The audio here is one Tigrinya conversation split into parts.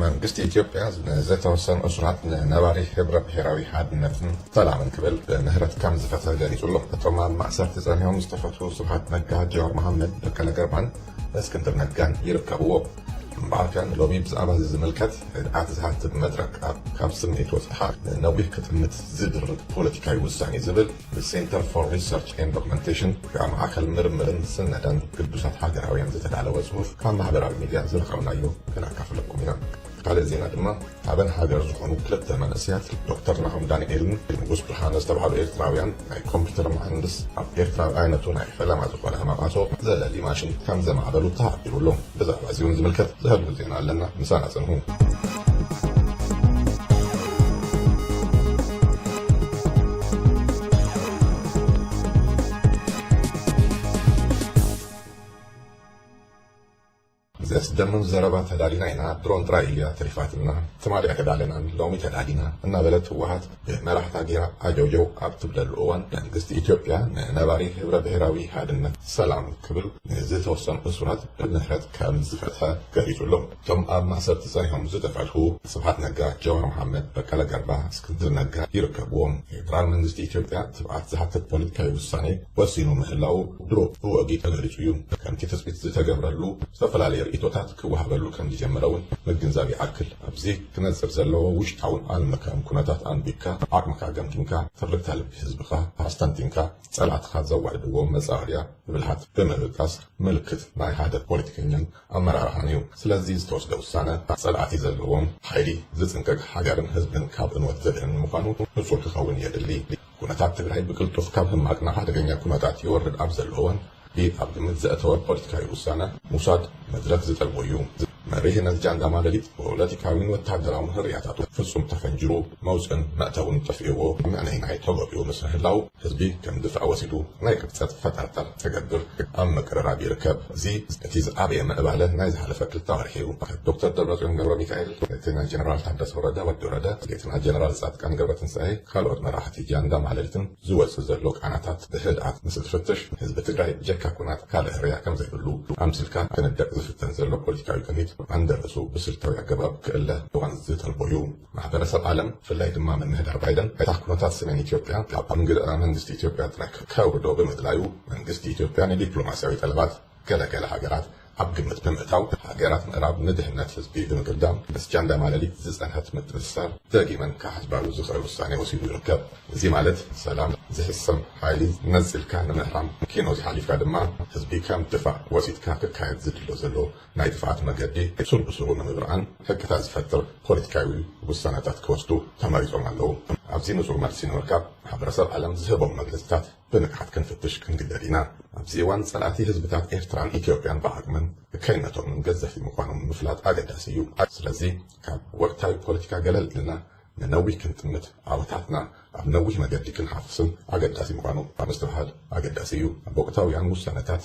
መንግስቲ ኢትዮጵያ ንዘተወሰኑ እሱራት ንነባሪ ህብረ ብሄራዊ ሓድነትን ሰላምን ክብል ብምህረት ከም ዝፈትሐ ገሊጹ ኣሎ። እቶም ኣብ ማእሰርቲ ጸኒሖም ዝተፈትሑ ስብሓት ነጋ፣ ጀዋር መሓመድ፣ በቀለ ገርባን እስክንድር ነጋን ይርከብዎ። እምበኣርከ ንሎሚ ብዛዕባ እዚ ዝምልከት ርድኣት ዝሃትት መድረኽ ካብ ስምዒት ወጺእኻ ንነዊሕ ክጥምት ዝድርኽ ፖለቲካዊ ውሳኔ ዝብል The Center for Research and Documentation ብኣ ማእከል ምርምርን ስነደን ግዱሳት ሃገራውያን ዝተዳለወ ጽሁፍ ካብ ማህበራዊ ሚድያ ዝረኸብናዮ ክነካፍለኩም ኢና። ካልእ ዜና ድማ ሓበን ሃገር ዝኾኑ ክልተ መንእሰያት ዶክተር ናሆም ዳንኤልን ንጉስ ብርሃነ ዝተብሃሉ ኤርትራውያን ናይ ኮምፒተር መሃንድስ ኣብ ኤርትራ ብዓይነቱ ናይ ፈለማ ዝኾነ ማቃሶ ዘለሊ ማሽን ከምዘማዕበሉ ተሓቢሩ ኣሎ። ብዛዕባ እዚውን ዝምልከት ዝሃለወ ዜና ኣለና ምሳና ጽንሑ። ዘስደምም ዘረባ ተዳሊና ኢና ድሮን ጥራይ እያ ተሪፋትና ትማሊ ኣይተዳለናን ሎሚ ተዳሊና እናበለት ህወሓት መራሕታ ጌራ ዓጀውጀው ኣብ ትብለሉ እዋን መንግስቲ ኢትዮጵያ ንነባሪ ህብረ ብሄራዊ ሓድነት ሰላም ክብል ንዝተወሰኑ እሱራት ብምህረት ከም ዝፈትሐ ገሊጹ ኣሎ። እቶም ኣብ ማእሰርቲ ጸኒሖም ዝተፈትሑ ስብሓት ነጋ፣ ጀዋር መሓመድ፣ በቀለ ገርባ፣ እስክንድር ነጋ ይርከብዎም። ፌደራል መንግስቲ ኢትዮጵያ ትብዓት ዝሓትት ፖለቲካዊ ውሳኔ ወሲኑ ምህላዉ ድሮ ብወግዒ ተገሊጹ እዩ። ከምቲ ትጽቢት ዝተገብረሉ ዝተፈላለየ ርእይቶታት ክወሃበሉ ከም ዝጀመረ እውን ምግንዛብ ይኣክል። ኣብዚ ክነጽር ዘለዎ ውሽጣውን ዓለምለካውን ኩነታት ኣንቢብካ፣ ዓቕምካ ገምጊምካ፣ ትርግታ ልቢ ህዝብኻ ኣስተንቲንካ፣ ጸላእትኻ ዘዋድድዎ መጻወድያ ብብልሃት ብምብጋስ ምልክት ናይ ሓደ ፖለቲከኛን ኣመራርሓን እዩ። ስለዚ ዝተወስደ ውሳነ ጸላእቲ ዘለዎም ሓይሊ ዝጽንቀቕ፣ ሃገርን ህዝብን ካብ ዕንወት ዘድሕን ንምዃኑ ንጹር ክኸውን የድሊ። ኩነታት ትግራይ ብቅልጡፍ ካብ ሕማቅ ናብ ሓደገኛ ኩነታት ይወርድ ኣብ ዘሎ እዋን ኢድ ኣብ ግምት ዘእተወ ፖለቲካዊ ውሳነ ምውሳድ መድረኽ ዝጠልቦ እዩ። መሪሕ ነዚ ጃንዳ ማለሊት ፖለቲካዊን ወተሃደራውን ህርያታቱ ፍጹም ተፈንጂሩ መውጽእን መእተውን ጠፊእዎ ምዕነይናይ ተጎቢኡ ምስ ምህላው ህዝቢ ከም ድፋዕ ወሲዱ ናይ ቅብጸት ፈጠርጠር ተገብር ኣብ ምቅርራብ ይርከብ። እዚ እቲ ዝዓበየ ምዕባለ ናይ ዝሓለፈ ክልተ ወርሒ እዩ። ዶክተር ደብረፅዮን ገብረሚካኤል፣ እቲ ናይ ጀነራል ታደሰ ወረደ፣ ወዲ ወረደ፣ እቲ ናይ ጀነራል ፃድቃን ገብረትንሳኤ፣ ካልኦት መራሕቲ ጃንዳ ማለሊትን ዝወፅእ ዘሎ ቃናታት ብህድኣት ምስ እትፍትሽ ህዝቢ ትግራይ ብጀካ ኩናት ካልእ ህርያ ከምዘይብሉ ኣምሲልካ ክንደቕ ዝፍተን ዘሎ ፖለቲካዊ ቅኒት ዓንደርእሱ ብስልታዊ ኣገባብ ክእለ እዋን ዝጠልቦ እዩ። ማሕበረሰብ ዓለም ብፍላይ ድማ ምምህዳር ባይደን ዕጣ ኩነታት ሰሜን ኢትዮጵያ ካብ ኣንግድራ መንግስቲ ኢትዮጵያ ጥራይ ከውርዶ ብምድላዩ መንግስቲ ኢትዮጵያ ንዲፕሎማሲያዊ ጠለባት ገለ ገለ ሃገራት ኣብ ግምት ብምእታው ሃገራት ምዕራብ ንድሕነት ህዝቢ ብምግዳም ምስ ጃንዳ ማለሊት ዝጸንሐት ምትእስሳር ደጊመን ክሓስባሉ ዝኽእል ውሳኔ ወሲዱ ይርከብ። እዚ ማለት ሰላም ዝሕሰም ሓይሊ ነጺልካ ንምህራም ኪኖዚ ሓሊፍካ ድማ ህዝቢ ከም ድፋዕ ወሲድካ ክካየድ ዝድሎ ዘሎ ናይ ጥፍኣት መገዲ ሱር ብሱሩ ንምብርዓን ሕግታት ዝፈጥር ፖለቲካዊ ውሳነታት ክወስዱ ተመሪጾም ኣለዉ። ኣብዚ ንጹር መልሲ ንምርካብ ማሕበረሰብ ዓለም ዝህቦም መግለጺታት ብንቕሓት ክንፍትሽ ክንግደድ ኢና። ኣብዚ እዋን ጸላእቲ ህዝብታት ኤርትራን ኢትዮጵያን ብዓቕምን እከይነቶምን ገዘፍቲ ምዃኖም ምፍላጥ ኣገዳሲ እዩ። ስለዚ ካብ ወቕታዊ ፖለቲካ ገለል ኢልና ንነዊህ ክንጥምት ዓወታትና ኣብ ነዊህ መገዲ ክንሓፍስን ኣገዳሲ ምዃኑ ምስትብሃል ኣገዳሲ እዩ። ኣብ ወቕታውያን ውሳነታት፣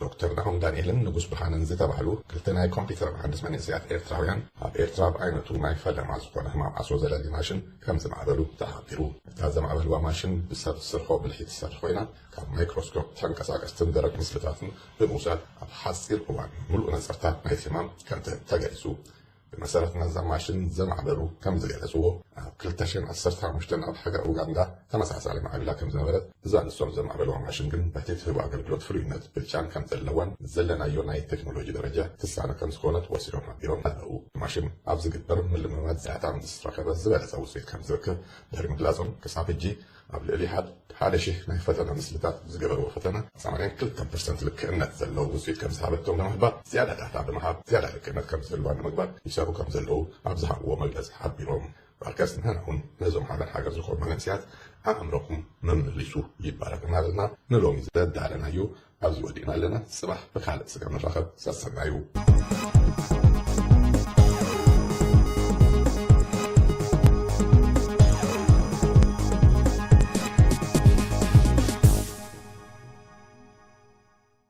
ዶክተር ናሆም ዳንኤልን ንጉስ ብርሃነን ዝተባህሉ ክልተ ናይ ኮምፒተር መሃንድስ መንእሰያት ኤርትራውያን ኣብ ኤርትራ ብዓይነቱ ናይ ፈለማ ዝኾነ ህማም ዓሶ ዘለሊ ማሽን ከም ዝማዕበሉ ተሓቢሩ። እታ ዘማዕበልዋ ማሽን ብሰብ ስርሖ ብልሒ ትሰርሕ ኮይና ካብ ማይክሮስኮፕ ተንቀሳቀስትን ደረቅ ምስልታትን ብምውሳድ ኣብ ሓጺር እዋን ምሉእ ነጸርታ ናይቲ ህማም ከም ትህብ ተገሊጹ። ብመሰረት ናዛ ማሽን ዘማዕበሉ ከም ዝገለፅዎ ኣብ ክልተ ሽሕን ዓሰርተ ሓሙሽተን ኣብ ሃገረ ኡጋንዳ ተመሳሳሊ ማዕብላ ከም ዝነበረት እዛ ንሶም ዘማዕበልዋ ማሽን ግን በቲ ትህቦ ኣገልግሎት ፍሉይነት ብልጫን ከም ዘለዋን ምስ ዘለናዮ ናይ ቴክኖሎጂ ደረጃ ትሳነ ከም ዝኾነት ወሲኾም ሓቢሮም ኣለው። ማሽን ኣብ ዝግበር ምልምማድ ዛያታ ምስ ረኸበ ዝበለፀ ውፅኢት ከም ዝርክብ ድሕሪ ምግላፆም ክሳብ ሕጂ ኣብ ልዕሊ ሓደ ሽሕ ናይ ፈተነ ምስልታት ዝገበርዎ ፈተነ ሰማንያን ክልተን ፐርሰንት ልክዕነት ዘለዎ ውፅኢት ከምዝሃበቶም ብምሕባር ዝያዳ ዳታ ብምሃብ ዝያዳ ልክዕነት ከምዝህልዋ ንምግባር ይሰርሑ ከምዘለዉ ኣብ ዝሃብዎ መግለፂ ሓቢሮም። ባርከስ ንሕና እውን ነዞም ሓዳር ሃገር ዝኾኑ መንእሰያት ኣእምሮኹም መመሊሱ ይባረኽ እናበልና ንሎሚ ዘዳለናዮ ኣብዚ ወዲእና ኣለና ጽባሕ ብካልእ ስጋ ንራኸብ ሰሰናዩ።